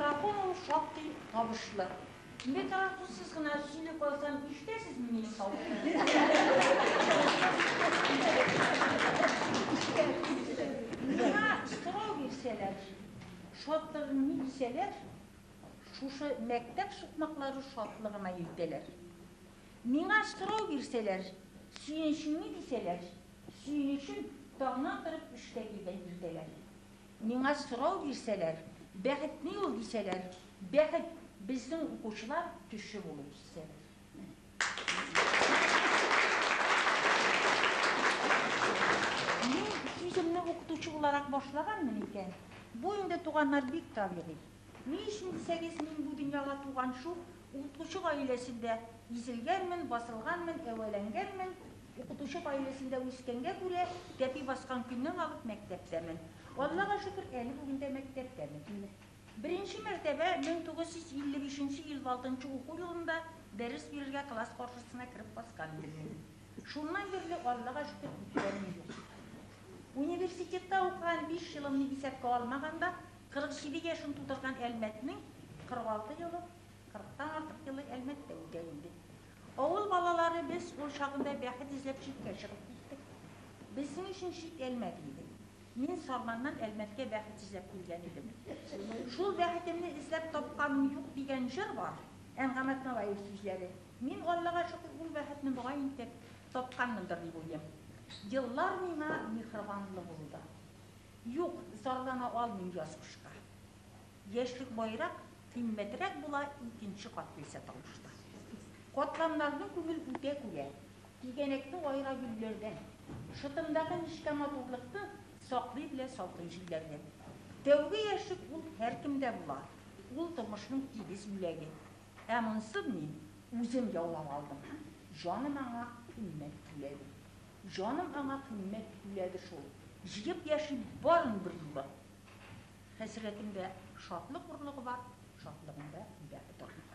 Микрофон ул шактый табышлы. Микрофонсыз гына сөйли калсам, ишетәсезме минем тавышымны? Миңа сорау бирсәләр, шатлыгың ни дисәләр, шушы мәктәп сукмаклары шатлыгыма илтәләр. Миңа сорау бирсәләр, сөенчең ни дисәләр, Сөенечем таңнан торып эшкә килгән иртәләр. Миңа сорау бирсәләр, бәхет ни ул дисәләр, бәхет, безнең укучылар төче булу дисәләр. Мин сүземне укытучы буларак башлаганмын икән, бу инде, туганнар, бик табигый. Ни өчен дисәгез, мин бу дөньяга туган шул укытучы гаиләсендә изелгәнмен, басылганмын, әвәләнгәнмен. Укытучы гаиләсендә үскәнгә күрә, тәпи баскан көннән алып мәктәптәмен. Аллага шөкер, әле бүген дә мәктәптәмен. Беренче мәртәбә 1955 нче ел алтынчы уку елында дәрес бирергә класс каршысына кереп баскан идем мин. Шуннан бирле, Аллага шөкер, киткәнем юк. Университетта укыган биш елымны исәпкә алмаганда, 47 яшен тутырган Әлмәтнең 46 елы, 40 тан артык елы Әлмәттә үтә инде. Авыл балалары без ул чагында бәхет эзләп читкә чыгып киттек. Безнең өчен чит Әлмәт инде. Мин Сарманнан Әлмәткә бәхет эзләп килгән идем. Шул бәхетемне эзләп тапканым юк дигән җыр бар, Әнгам Атналаев сүзләре. Мин Аллага шөкер ул бәхетне могаен итеп тапканмындыр дип уйлыйм. Еллар миңа миһрбанлы булды. Юк, зарлана алмыйм яз кышка. Яшьлек баерак, кыйммәтрәк була икенче кат килсә тормышта. Катламнарның күңел үтә күгә, тигәнәкне аера гөлләрдән. Шытымдагы нечкә матурлыкны саклый белә салкын җилләрдән. Тәүге яшьлек ул һәркемдә була, ул тормышның тигез бүләге. Ә монсын мин үзем яулап алдым, җаным аңа кыйммәт түләдем. Җаным аңа кыйммәт түләде шул. Җыеп яшим барын берьюлы. Хәсрәтемдә шатлык орлыгы бар, шатлыгымда үлә орлыгы.